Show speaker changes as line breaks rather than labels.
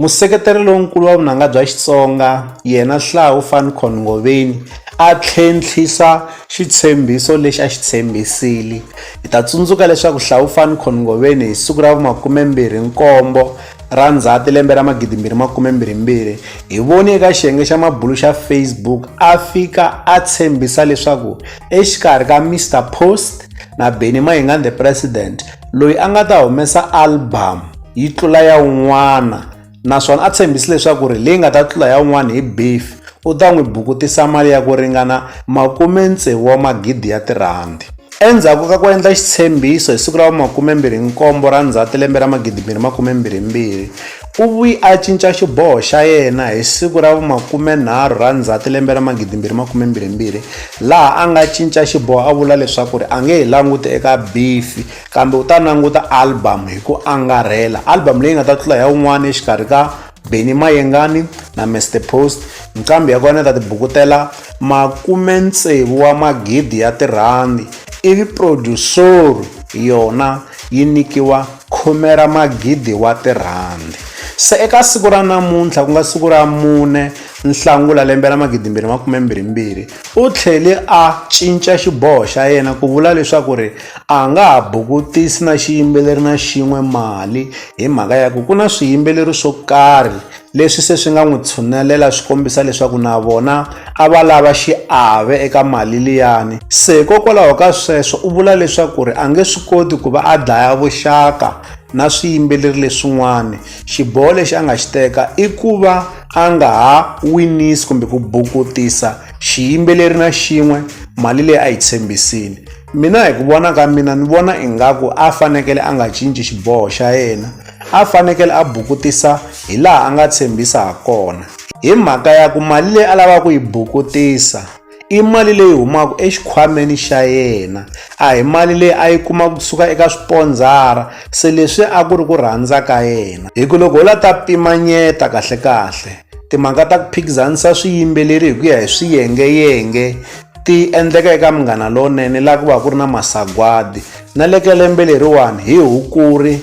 Museketeri lonkulu wa vunanga bya Xitsonga yena Hlau van Coen Ngoveni a tlhentlhisa xitshembiso lexi a xi tshembisile. Hi ta tsundzuka leswaku Hlau van Coen Ngoveni hi siku ra vu 27 ra Ndzhati lembe ra 2022 hi voni eka xiyenge xa mabulu xa Facebook a fika a tshembisa leswaku exikarhi ka Mister Post na Benny Mayengani the President, loyi a nga ta humesa album yi tlula ya un'wana naswona a tshembisi leswaku ri leyi nga ta tlula ya un'wana hi beef u ta n'wi bukutisa mali ya ku ringana makume tsevu wa magidi ya tirhandi endzhaku ka ku endla xitshembiso hi siku ra va makume mbirhi nkombo ra ndzhati lembe ra magidi mbirhi makume mbirhi mbirhi U vuye a cinca xiboho xa yena hi siku ra vu-30 ra Ndzhati lembe ra 2022 laha a nga cinca xiboho a vula leswaku a nge he languti eka Biffy kambe u ta languta album hi ku angarhela, album leyi nga ta tlula ya un'wana exikarhi ka Benny Mayengani na Mister Post. Nqambi ya kona yi ta tibukutela makume-tsevu wa magidi ya tirhandi ivi produsoro yona yi nyikiwa. khume ra magidi wa tirhandi. Se eka siku ra namuntlha, ku nga siku ra mune Nhlangula lembe ra magidimbirhi makumembirhimbirhi, u tlhele a cinca xiboho xa yena ku vula leswaku ri a nga ha bukutisi na xiyimbeleri na xin'we mali hi mhaka ya ku ku na swiyimbeleri swo karhi Leswi se swi nga n'wi tshunelela swi kombisa leswaku na vona a va lava xiave eka mali liyani. Se hikokwalaho ka sweswo u vula leswaku ri a nge swi koti ku va a dlaya vuxaka na swiyimbeleri leswin'wana. Xiboho lexi a nga xi teka i ku va a nga ha winisi kumbe ku bukutisa xiyimbeleri na xin'we mali leyi a yi tshembisile. Mina hi ku vona ka mina ni vona ingaku a fanekele a nga cinci xiboho xa yena. a fanekele a bukutisa hi laha a nga tshembisa ha kona hi mhaka ya ku mali leyi a lavaka ku yi bukutisa i mali leyi humaka exikhwameni xa yena a hi mali leyi a yi kuma kusuka eka swipondzara se leswi a ku ri ku rhandza ka yena hi ku loko ho la ta pimanyeta kahlekahle timhaka ta ku phikizanisa swiyimbeleri hi ku ya hi swiyengeyenge ti endleka eka munghana lowunene laha ku va ku ri na masagwadi na le ka lembe leriwani hi hukuri